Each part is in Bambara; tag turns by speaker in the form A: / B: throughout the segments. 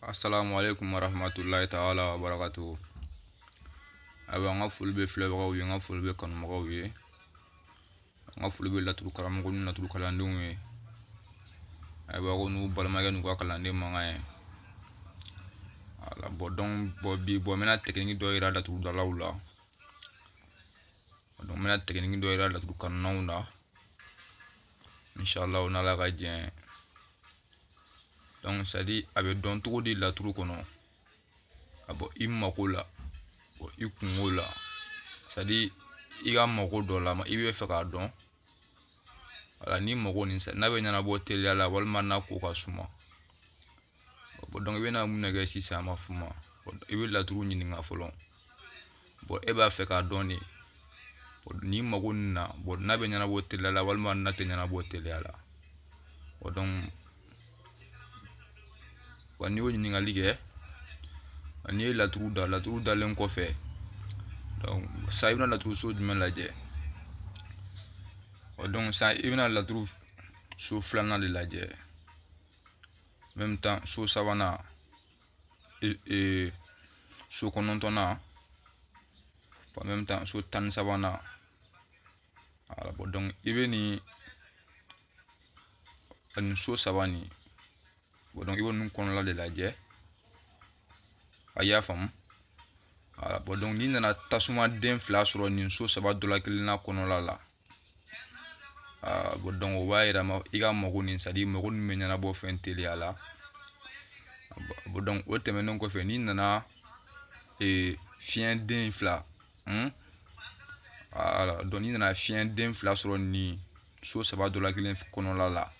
A: assalamu alaikum warahmatullahi taala wabarakatuhu ayiwa an ka foli bɛ filɛbagaw ye an ka foli bɛ kanubagaw ye an ka foli bɛ laturu karamɔgɔ ni laturu kalandenw ye ayiwa ko n'u balimakɛ n'u ka kalanden mankan ye voilà bon donc bon bi bon n bɛna tɛkiniki dɔ yira laturudalaw la donc n bɛna tɛkiniki dɔ yira laturu kanunnaw na inshallah o n'ala ka jɛ donc c'est à dire a bɛ dɔn cogo di laturu kɔnɔ ka bɔ i mako la bɔ i kunko la c'est à dire i ka mako dɔ la i b'a fɛ k'a dɔn voilà ni mako nin n'a bɛ ɲɛnabɔ teliya la walima n'a ko ka suma donc i bɛna mun ne kɛ sisan an b'a f'o ma i bɛ laturu ɲininka fɔlɔ bon e b'a fɛ k'a dɔn de ni mago ninnu na bon n'a bɛ ɲɛnabɔ teliya la walima n'a tɛ ɲɛnabɔ teliya la o donc wa n'i y'o ɲininkali kɛ n'i ye laturu da laturu dalen kɔfɛ donc ça i bɛna laturu so jumɛn lajɛ o donc ça i bɛna laturu so filanan de lajɛ même temps so sabanan e, e, so kɔnɔntɔnnan même temps so tan ni sabanan voilà bon donc i bɛ nin ani so saba nin bon donc i bɛ ninnu kɔnɔla de lajɛ a y'a faamu voilà bon donc n'i nana tasuma den fila sɔrɔ nin so saba dɔ la kelen na kɔnɔla la Ah, bon donc o b'a yira i ka mago nin c'est à dire mago nin bɛ ɲɛnabɔ fɛn teliya la bon donc o tɛmɛnen kɔfɛ n'i nana ee fiɲɛ den fila hmm? voilà ah, donc n'i nana fiɲɛ den fila sɔrɔ nin so saba dɔ la kelen kɔnɔla la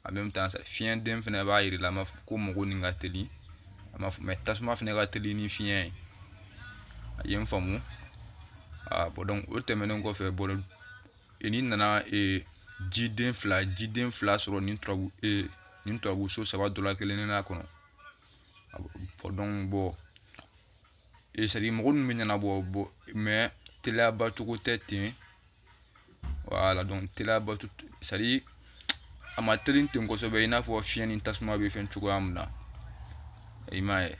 A: en même temps fiɲɛ den fɛnɛ b'a yira la an b'a fɔ ko mago nin ka teli an b'a fɔ mais tasuma fɛnɛ ka teli ni fiɲɛ ye a ye n faamu aa bon donc o tɛmɛnen kɔfɛ bon e n'i nana ee jiden fila jiden fila sɔrɔ nin turabu ee nin turabu so saba dɔ la kelen na kɔnɔ bon donc bon c'est à dire mago ninnu bɛ ɲɛnabɔ bon mais teliyaba cogo tɛ ten voilà donc teliyaba c'est à dire a ma teli ten kosɛbɛ i n'a fɔ fiɲɛ ni tasuma bɛ fɛn cogoya min na i m'a ye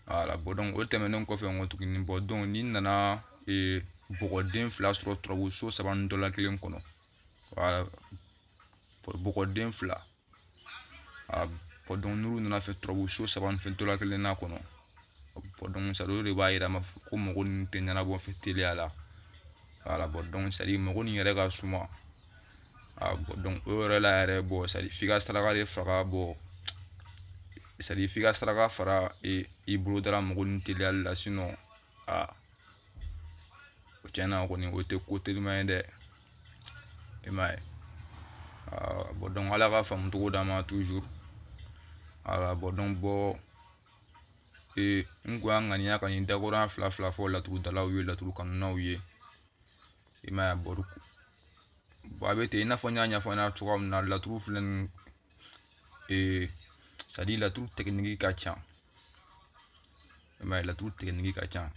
A: voilà bon donc o tɛmɛnen kɔfɛ n ko tuguni bon donc n'i nana ee bɔgɔden fila sɔrɔ turabu so saba nin dɔ la kelen kɔnɔ voilà bɔgɔden fila a bɔ dɔn n'olu nana fɛ turabu so saba ni fɛn tola kelen na kɔnɔ a bɔ dɔn sa olu de b'a yira ma ko mago nin tɛ ɲɛnabɔ fɛ teliya la wala bɔ dɔn sadi mago nin yɛrɛ ka suma a bɔ dɔn o yɛrɛ la yɛrɛ bɔ sadi f'i ka saraka de faga bɔ sadi f'i ka saraka fara i bolodala mago nin teliyali la sinɔn aa o tiɲɛna kɔni o tɛ ko telima ye dɛ i m'a ye bɔn dɔnku ala ka faamu cogo d'an ma tuzuru ala bɔn dɔnku bɔ ee n ko an ŋaniya ka nin dakɔrɔya fila fila fɔ laturudalaw ye laturu kanunaw ye i m'a ye bɔri a bɛ ten i n'a fɔ n y'a ɲɛfɔ ɲɛna cogoya min na laturu filɛ nin ee sadi laturu tɛkiniki ka ca i m'a ye laturu tɛgɛnigi ka ca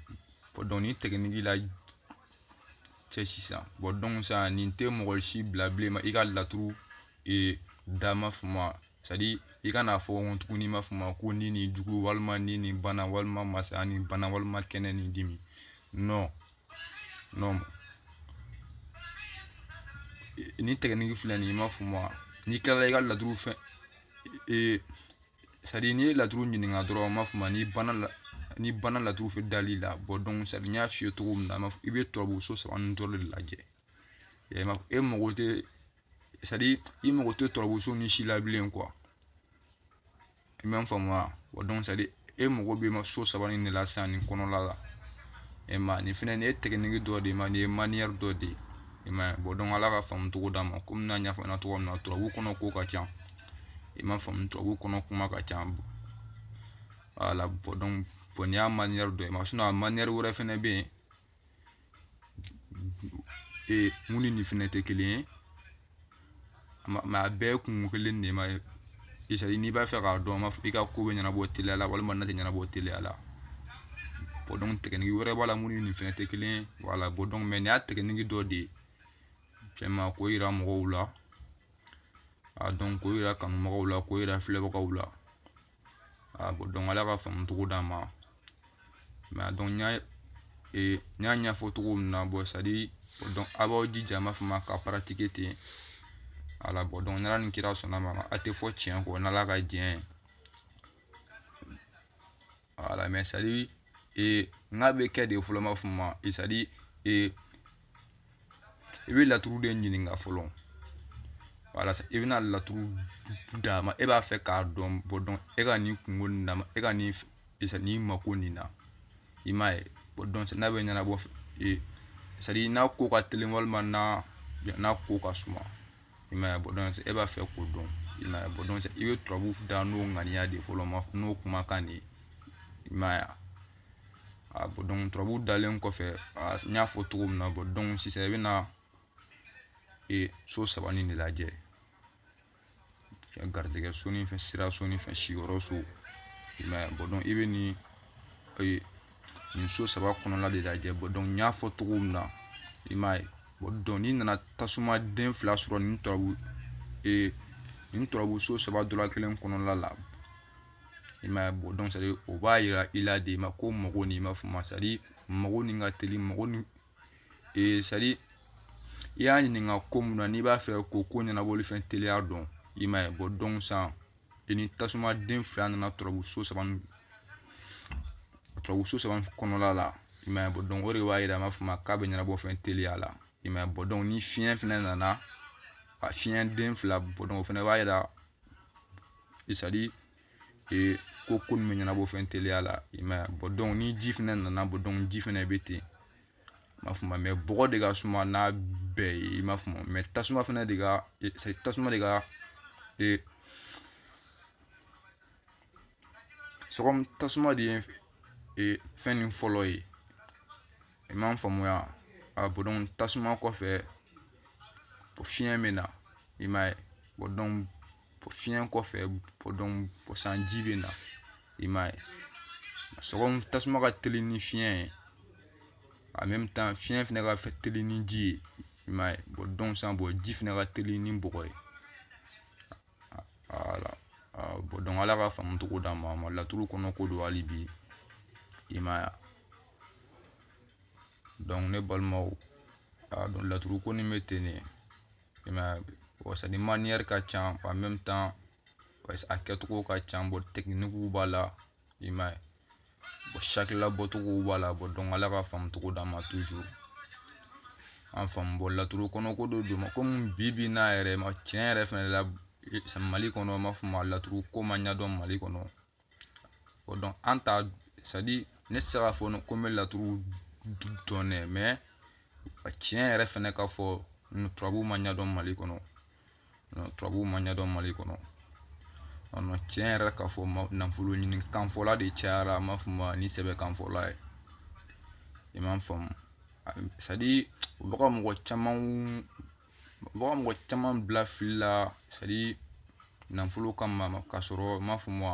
A: dɔnku nin tɛgɛnigi lajɛ sisan bɔn dɔnku sisan nin tɛ mɔgɔ si bila bilen ma i ka laturu e, da m'a faamu sadi i kan'a fɔ ko tuguni m'a faamu ko ni ni jugu walima ni ni bana walima masaya ni bana walima kɛnɛ ni dimi non non nin tɛgɛnigi filɛ nin i m'a faamu n'i tilala i ka laturu fɛn e, sadi n'i ye laturu ɲininka dɔrɔn n b'a fɔ ma n'i banna la n'i banna laturu fɛn dali la bɔ dɔn sadi n y'a f'i ye cogo min na i bɛ turabu so saba nin dɔrɔn de lajɛ e mago tɛ sadi i mago tɛ turabu so nin si la bilen kuwa i bɛ n faamu wa wa dɔn sadi e mago bɛ ma so saba nin de la sisan nin kɔnɔla la e ma nin fɛnɛ nin ye tɛgɛnigi dɔ de ma nin ye maniyɛri dɔ de ye i m'a ye bɔn dɔn ala ka faamu cogo d'an ma komi n y'a ɲɛfɔ n ɲɛna cogo min na turabu kɔnɔ ko ka ca i m'a faamu turabu kɔnɔ kuma ka ca wala bɔn dɔn bɔn nin y'a maniyɛri dɔ ye ma sinɔn a maniyɛri wɛrɛ fɛnɛ bɛ yen ee min ni nin fɛnɛ tɛ kelen ye mɛ a bɛɛ kun kelen de ma sadi n'i b'a fɛ k'a dɔn ma i ka ko bɛ ɲɛnabɔ teliya la walima n'a tɛ ɲɛnabɔ teliya la bɔn dɔn tɛkɛniki wɛrɛ b'a la min ni nin fɛnɛ tɛ kelen ye wala bɔn dɔn mɛ nin y'a tɛkɛniki dɔ de ye fɛn ma k'o yira mɔgɔw la a dɔn k'o yira kanubagaw la k'o yira filɛbagaw la a bɔn dɔn ala ka faamu cogo d'an ma mɛ a dɔn n y'a ee n y'a ɲɛfɔ cogo min na bɔn sadi dɔn aw b'aw jija n b'a fɔ ma ka paratike ten wala bɔn dɔn n'ala ni kira sɔnna a ma a tɛ fɔ tiɲɛ kɔ n'ala ka diɲɛ ye wala mɛ sadi e, n k'a bɛ kɛ di fɔlɔ n b'a fɔ ma e, sadi e, i bɛ laturu de ɲininka fɔlɔ wala i bɛna laturu da ma e b'a fɛ k'a dɔn bɔ dɔn e ka nin kunko nin na e ka nin isa nin mako nin na i m'a ye bɔ dɔn n'a bɛ ɲɛnabɔ e sadi n'a ko ka teli walima n'a n'a ko ka suma i m'a ye bon donc e b'a fɛ k'o dɔn i m'a ye bon donc i bɛ turabu da n'o ŋaniya de fɔlɔ ma n'o kumakan de ye i m'a ye a bon donc turabu dalen kɔfɛ n y'a fɔ cogo min na bon donc sisan i bɛ na e so saba nin de lajɛ fɛn garijɛgɛ so ni fɛn sira so ni fɛn siyɔrɔ so i m'a ye bon donc i bɛ nin nin so saba kɔnɔna de lajɛ bon donc n y'a fɔ cogo min na i m'a ye bon donc n'i nana tasuma den fila sɔrɔ nin turabu ee nin turabu so saba dɔla kelen kɔnɔna la i m'a ye bon donc c'est-à-dire o b'a yira i la de ma ko mɔgɔ ni n b'a fɔ ma c'est-à-dire mɔgɔ ni ka teli mɔgɔ ni ee c'est-à-dire i y'a ɲininka ko mun na n'i b'a fɛ k'o ko ɲɛnabɔli fɛn teliya dɔn i m'a ye bon donc san i ni tasuma den fila nana turabu so saba turabu so saba kɔnɔna la i m'a ye bon donc o de b'a yira an b'a fɔ ma k'a bɛ ɲɛnabɔ fɛn teliya la i m'a ye bon donc ni fiɲɛ fɛnɛ nana a fiɲɛ den fila bon donc o fɛnɛ b'a yira c'est-à-dire ee ko ko nin bɛ ɲɛnabɔ fɛn teliya la i m'a ye bon donc ni ji fɛnɛ nana bon donc ji fɛnɛ bɛ ten m'a faamu mais bɔgɔ de ka suma n'a bɛɛ ye i m'a faamu mais tasuma fana de ka tasuma de ka c'est comme tasuma de ye fɛn nin fɔlɔ ye i m'a faamuya a bon donc tasuma kɔfɛ fiɲɛ bɛ na i m'a ye bon donc fiɲɛ kɔfɛ bon donc san ji bɛ na i m'a ye c'est comme tasuma ka teli ni fiɲɛ ye en même temps fiɲɛ fɛnɛ ka teli ni ji ye i m'a ye bon donc san bon ji fɛnɛ ka teli ni bɔgɔ ye voilà bon donc ala ka faamu cogo d'an ma ma laturu kɔnɔ ko dɔn hali bi i m'a ye donc ne balimaw a dɔn laturu ko ni bɛ ten ne i m'a ye wasani manière ka can en même temps parce que a kɛcogo ka ca bon tɛkinikiw b'a la i m'a ye bon sakila bɔcogo b'a la bon donc ala ka faamu cogo d'an ma toujours an faamu bon laturu kɔnɔ ko dɔ dɔn ma komi bi bi na yɛrɛ mais tiɲɛ yɛrɛ fɛnɛ la mali kɔnɔ n b'a fɔ ma laturu ko ma ɲɛdɔn mali kɔnɔ bon donc an ta c'est-à-dire ne tɛ se k'a fɔ ko n bɛ laturu dɔn dɛ mais a tiɲɛ yɛrɛ fɛnɛ ka fɔ turabu ma ɲɛdɔn mali kɔnɔ turabu ma ɲɛdɔn mali kɔnɔ ɔnɔ tiɲɛ yɛrɛ ka fɔ nafolo ɲini kanfɔla de cayara an b'a fɔ ma ni sɛbɛ kanfɔla ye i m'a faamu c'est-à-dire u bɛ ka mɔgɔ caman Mɔgɔ mɔgɔ caman bila fili la sadi nafolo kama ka sɔrɔ n m'a fɔ ma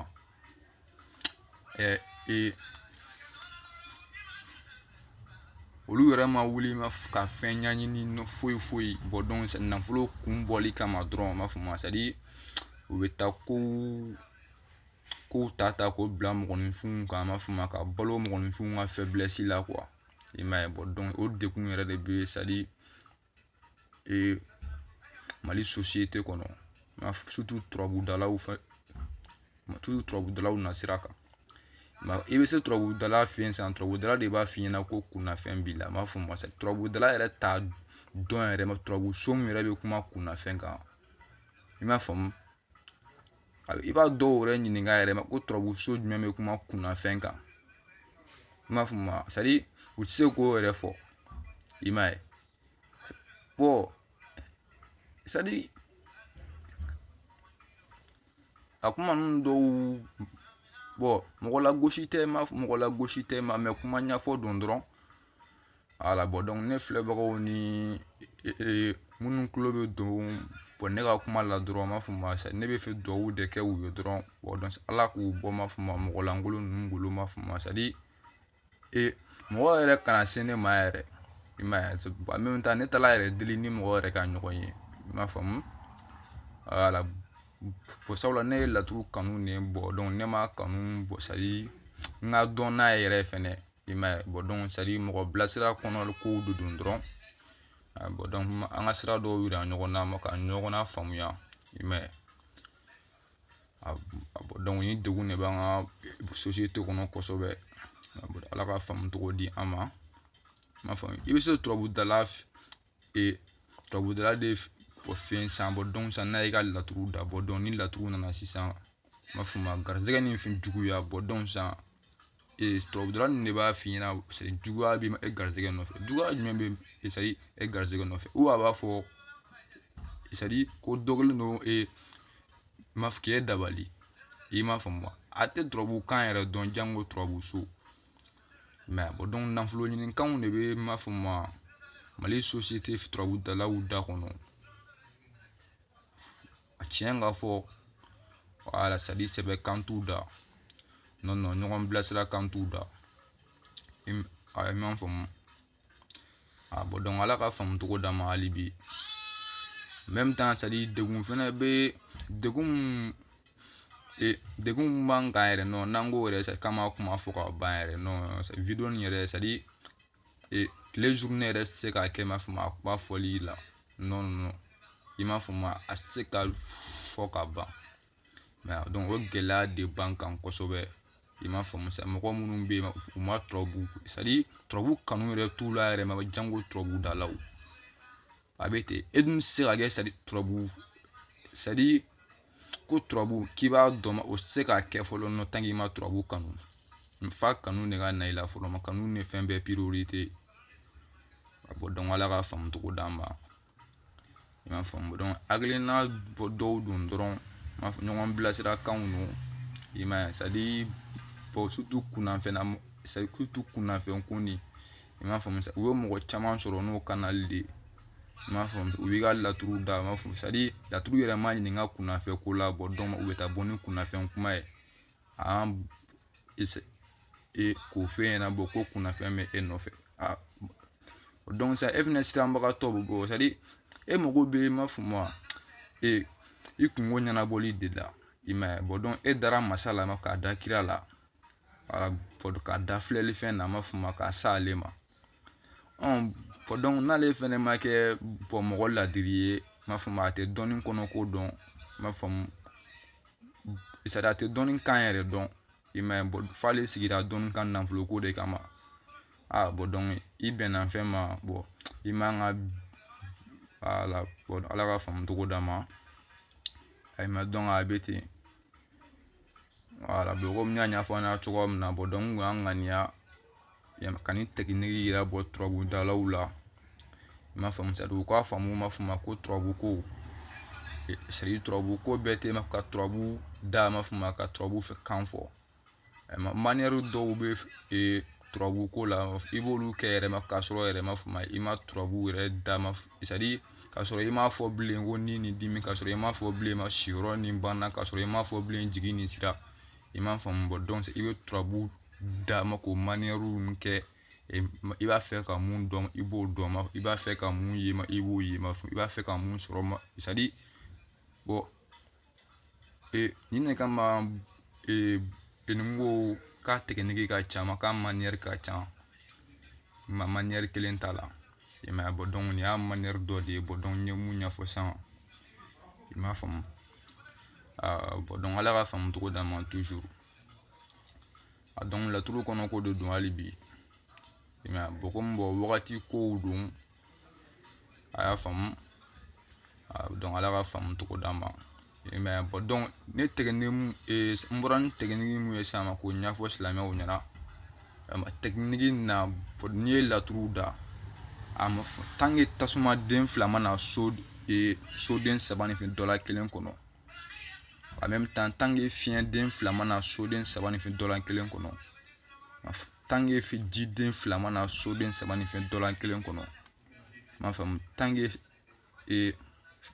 A: ɛ e olu yɛrɛ ma wuli ma ka fɛn ɲɛɲini foyi foyi bɔn dɔnku nafolo kun bɔli kama dɔrɔn n m'a fɔ ma sadi u bɛ taa ko kow ta ta k'o bila mɔgɔninfinw kan an b'a fɔ ma ka balo mɔgɔninfinw ka fɛbilɛsi la kuwa i m'a ye bɔn o degun yɛrɛ de bɛ sadi ee mali sosiyete kɔnɔ nka sutu turabudalaw fɛ tutu turabudalaw nasira kan nka i bɛ se turabudala fɛ yen sisan turabudala de b'a f'i ɲɛna ko kunnafɛn b'i la n b'a fɔ ma sa turabudala yɛrɛ t'a dɔn yɛrɛ ma turabu so min yɛrɛ bɛ kuma kunnafɛn kan i m'a faamu i b'a dɔw yɛrɛ ɲininka yɛrɛ ma ko turabuso jumɛn bɛ kuma kunnafɛn kan i m'a faamu ma sadi u tɛ se k'o yɛrɛ fɔ i m'a ye bɔn sadi a kuma ninnu dɔw bɔn mɔgɔ lagosi tɛ ma mɔgɔ lagosi tɛ ma mɛ kuma ɲɛfɔ don dɔrɔn wala bɔn dɔnku ne filɛbagaw ni minnu tulo bɛ don bɔn ne ka kuma la dɔrɔn n b'a fɔ ma sa ne bɛ fɛ dugawu de kɛ u ye dɔrɔn ala k'u bɔ ma fɔ ma mɔgɔ lankolon ninnu bolo ma fɔ ma sadi ee mɔgɔ yɛrɛ kana se ne ma yɛrɛ i m'a ye ba min ta ne t'ala yɛrɛ deli ni mɔgɔ yɛrɛ ka ɲɔgɔn ye i m'a faamu wala bɔn sabula ne ye laturu kanu de bɔn ne m'a kanu bɔn sadi n k'a dɔn n'a ye yɛrɛ fɛnɛ i m'a ye bɔn dɔnku sadi mɔgɔ bilasira kɔnɔ kow de don dɔrɔn bɔn dɔnku an ka sira dɔw yira ɲɔgɔn na ka ɲɔgɔn lafaamuya i m'a ye dɔnku nin degun de b'an ka sosiyete kɔnɔ kosɛbɛ ala ka faamu cogo di an ma i bɛ se turabudala ee turabudala de fɛ san bɔn dɔnku san n'a y'i ka laturu da bɔn dɔnku ni laturu nana sisan n b'a fɔ ma garisɛgɛ ni fɛn juguya bɔn dɔnku san ee turabudala ninnu de b'a f'i ɲɛna juguya bɛ e garisɛgɛ nɔfɛ juguya jumɛn bɛ sadi e garisɛgɛ nɔfɛ u a b'a fɔ sadi ko dɔ kɛlen don ee ma k'e dabali i m'a faamu a tɛ turabu kan yɛrɛ dɔn janko turabu so mɛ a bɔn dɔnku nafoloɲini kanw de bɛ n b'a fɔ ma mali sosiyete turabudalaw da kɔnɔ a tiɲɛ ka fɔ wala sadi sɛbɛ kan t'u da nɔn nɔn ɲɔgɔn bilasira kan t'u da i m'a faamu a bɔ dɔn ala ka faamu cogo d'an ma hali bi même temps sadi degun fɛnɛ bɛ degun e degun mun b'an kan yɛrɛ nɔ n'an ko yɛrɛ sadi k'a ma kuma fɔ ka ban yɛrɛ nɔ video nin yɛrɛ sadi e tile journée yɛrɛ ti se ka kɛ ma fɔ ma kuma fɔli la nɔ nɔ i m'a fɔ ma a ti se ka fɔ ka ban o gɛlɛya de b'an kan kosɛbɛ i m'a faamu sa mɔgɔ minnu bɛ yen u ma tɔbu turabu kanu yɛrɛ t'u la yɛrɛ ma janko turabudalaw a bɛ ten e dun tɛ se ka kɛ sadi turabu sadi ko turabu k'i b'a dɔn o tɛ se ka kɛ fɔlɔ nɔ tan k'i ma turabu kanu f'a kanu de ka na i la fɔlɔ ma kanu ni fɛn bɛɛ a bɔ dɔn ala ka faamu cogo d'an ma i m'a faamu dɔn hakilina bɔ dɔw don dɔrɔn m'a fɔ ɲɔgɔn bilasirakanw don i m'a ye sadi bɔn sutu kunnafɛnna sutu kunnafɛn ko ni i m'a faamu u ye mɔgɔ caman sɔrɔ n'o kanali de ye i m'a faamu u b'i ka laturu da i m'a faamu sadi laturu yɛrɛ ma ɲininka kunnafɛn ko la bɔ dɔn u bɛ taa bɔ ni kunnafɛn kuma ye an k'o f'e ɲɛna bɔ ko kunnafɛn bɛ e nɔfɛ a dɔn sisan e fɛnɛ siranbagatɔ bɛ bɔ e mago bɛ i m'a faamu ee i kungo ɲɛnabɔli de la i m'a ye bɔn e dara masa la k'a da kira la k'a da filɛli fɛn na a m'a faamu k'a sa ale ma bɔn n'ale fɛnɛ ma kɛ bɔn mɔgɔ ladiri ye m'a faamu a tɛ dɔnni kɔnɔko dɔn m'a faamu sadi a tɛ dɔnni kan yɛrɛ dɔn i m'a ye f'ale sigira dɔnni kan nafolo ko de kama a bɔ dɔn i bɛnna fɛn ma bɔ i man ka ala ala ka faamu cogo d'an ma ayi ma dɔn a bɛ ten wala komi n y'a ɲɛfɔ aw ɲɛna cogoya min na bɔ dɔn kun y'an ŋaniya yɛrɛ ma ka nin tɛkiniki yira bɔ turabudalaw la i m'a faamu sadi u k'a faamu ma f'o ma ko turabuko sadi turabuko bɛɛ tɛ ma ka turabu da ma f'o ma ka turabu fɛ kan fɔ maniyɛri dɔw bɛ yen turabuko la i b'olu kɛ yɛrɛ ma k'a sɔrɔ yɛrɛ ma f'o ma i ma turabu yɛrɛ da ma sadi k'a sɔrɔ i m'a fɔ bilen ko ni nin dimi k'a sɔrɔ i m'a fɔ bilen ma siyɔrɔ nin banna k'a sɔrɔ i m'a fɔ bilen jigin nin sira i m'a faamu bɔ dɔn i bɛ turabu da ma k'o maniyɛriw min kɛ i b'a fɛ ka mun dɔn i b'o dɔn ma i b'a fɛ ka mun ye ma i b'o ye ma i b'a fɛ ka mun sɔrɔ ma sadi bɔ ee nin ne kama ee nin ko k'a tɛkiniki ka ca ma k'a maniyɛri ka ca ma maniyɛri kelen t'a la i m'a ye bɔ nin y'a maniyɛri dɔ de ye bɔ n ye mun ɲɛfɔ sisan i m'a faamu bɔn dɔnku ala ka faamu cogo d'an ma tuzur a dɔnku laturu kɔnɔ ko de don hali bi mɛ bɔn komi bɔ wagati kow don a y'a faamu dɔnku ala ka faamu cogo d'an ma mɛ bɔn dɔnku ne tɛgɛni n bɔra ni tɛkiniki mun ye sisan ma k'o ɲɛfɔ silamɛw ɲɛna a tɛkiniki na n'i ye laturu da a ma tange tasuma den fila ma na so soden saba ni fɛn dɔ la kelen kɔnɔ a bɛ tan tange fiɲɛ den fila ma na soden saba ni fɛn dɔ la kelen kɔnɔ tange ji den fila ma na soden saba ni fɛn dɔ la kelen kɔnɔ m'a faamu tange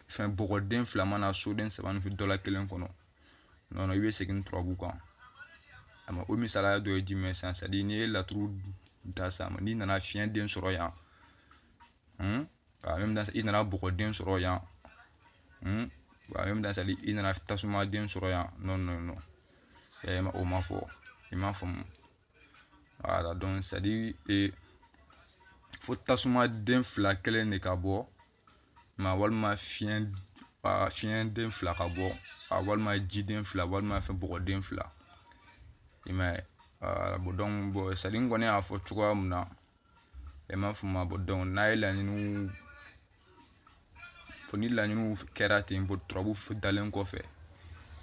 A: fɛn bɔgɔden fila ma na soden saba ni fɛn dɔ la kelen kɔnɔ nɔnɔ i bɛ segin turabu kan a ma o misaliya dɔ ye jumɛn sisan sadi n'i ye laturu da san ma n'i nana fiɲɛ den sɔrɔ yan i nana bɔgɔ den sɔrɔ yan sadi i nana tasuma den sɔrɔ yan nɔ nɔ nɔ yɛlɛma o ma fɔ i m'a faamu wala dɔn sadi e fo tasuma den fila kelen de ka bɔ ma walima fiɲɛ a fiɲɛ den fila ka bɔ a walima jiden fila walima fɛn bɔgɔden fila i m'a ye bɔn dɔn bɔ sadi komi n y'a fɔ cogoya min na e ma fɔ ma bɔ dɔn n'a ye laɲiniw fɔ ni laɲiniw kɛra ten bɔ turabu dalen kɔfɛ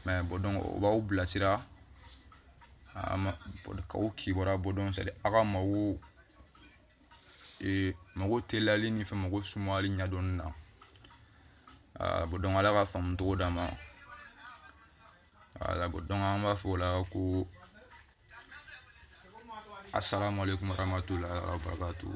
A: mɛ bɔ dɔn o b'aw bilasira k'aw kibaruya bɔ dɔn sadi aw ka mago ee mago teliyali ni fɛn mago sumayali ɲɛdɔnni na aa bɔn dɔnku ala ka faamu cogo d'an ma wala bɔn dɔnku an b'a fɔ o la ko assalamu alaikum warahmatullahi wabarakatuh